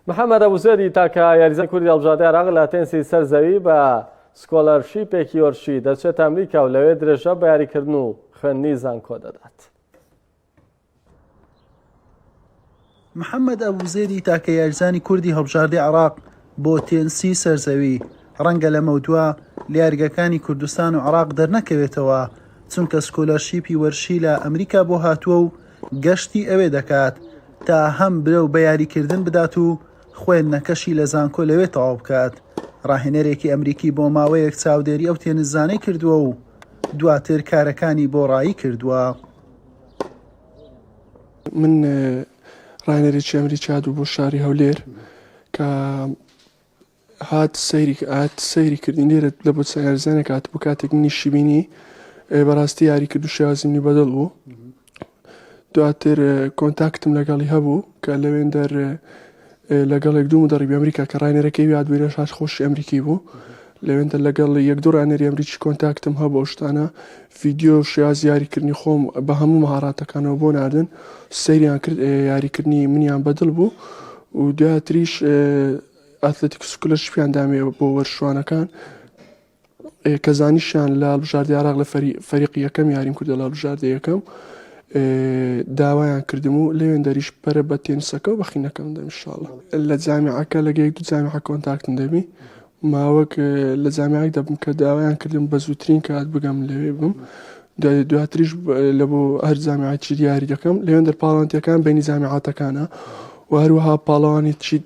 محەمەد ئەبوزێدی تاکە یاریزانی کوردی هەڵبژاردەی عێراق لە تێنسی سەر زەوی بە سکۆلەرشیپێکی یۆرشی دەچێتە ئەمریکا و لەوێ درێژە بە یاریکردن و خوێندنی زانکۆ دەدات. محەممەد ئەبوزێری تاکە یارزانی کوردی هەڵبژاردی عراق بۆ تێنسی سەرزەوی ڕەنگە لەمەودوا لیارگەکانی کوردستان و عراق دەرنەکەوێتەوە چونکە سکۆلەرشیپی وەرشی لە ئەمریکا بۆ هاتووە و گەشتی ئەوێ دەکات تا هەم برەو بە یاریکردن بدات و خوێندنەکەشی لە زانکۆ لەوێ تەواو بکات. راهێنەرێکی ئەمریکی بۆ ماوەیەک چاودێری ئەو تێنسزانەی کردووە و دواتر کارەکانی بۆ رایی کردووە. من راهێنەرێکی ئەمریکا دوو بۆ شاری هەولێر کە هات سەیری هات سەیری کردین لێرە لە بۆ سەرزانێک هات بۆ کاتێک منیشی بینی ئێ بەڕاستی یاری کرد و شێوازی منی بەدڵ بوو دواتر ئێ، کۆنتاکتم لەگەڵی هەبوو کە لەوێن دەر ئێ، ئێ، لەگەڵێک دوو دەڕی ئەمریکا کە ڕانێرەکەی یاد بووینە شار خۆشی ئەمریکی بوو لەوێندە لەگەڵ یەک دوو ڕانێری ئەمریکی کۆنتاکتم هەبوو ئەو شتانە ڤیددیو و شێواز یاریکردنی خۆم بە هەموو مهاڕاتەکانەوە بۆ ناردن سەیریان کرد ئێ، یاریکردنی منیان بەدڵ بوو و دواتریش ئێ، ئاتلەتیکۆ سکلەرشپیان دامێ بۆ وەرشوانەکان کە زانیشیان لە هەڵبژاردە عراق لە فەریقی یەکەم یاریم کردە لە هەڵبژاردە یەکەم داوایان کردم و لەوێن دەریش پەرە بە تێنسەکە و بەخینەکەم دەمشاڵە لە جامیعەکە لەگەیەک دو جامیعە کۆنتاکتن دەبی ماوەک لە جامیعک دەبم کە داوایان کردم بە زووترین کات بگەم لەوێ بم دواتریش لە بۆ هەر جامیعی دیاری دەکەم لەوێن دەرپاڵانتیەکان بینی جامیعاتەکانە و هەروەها پاڵەوانی چیت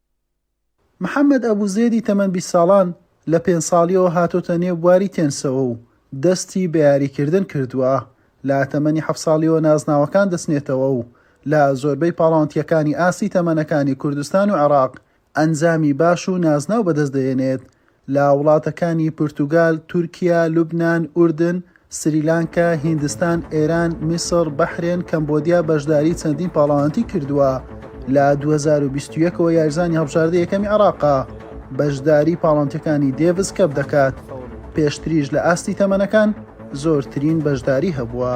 محەمەد ئەبو زێدی تەمەن بیست ساڵان، لە پێنج ساڵییەوە هاتۆتە نێو بواری تێنسەوە و دەستی بە یاریکردن کردووە، لە تەمەنی حەفت ساڵییەوە نازناوەکان دەچنێتەوە و لە زۆربەی پاڵاوتییەکانی ئاستی تەمەنەکانی کوردستان و عێراق ئەنجامی باش و نازناو بەدەست دەهێنێت، لە وڵاتەکانی پورتوگال، تورکیا، لوبنان، ئوردن، سریلانکا، هیندستان، ئێران، میسڕ، بەحرێن، کەمبۆدیا بەشداری چەندین پاڵەوانتی کردووە. لە دوو هەزار و بیست و یەک ەوە یاریزانی هەڵبژاردە یەکەمی عێراقە، بەشداری پاڵەوانتیەکانی دێڤس کەپ دەکات، پێشتریش لە ئاستی تەمەنەکان زۆرترین بەشداری هەبووە.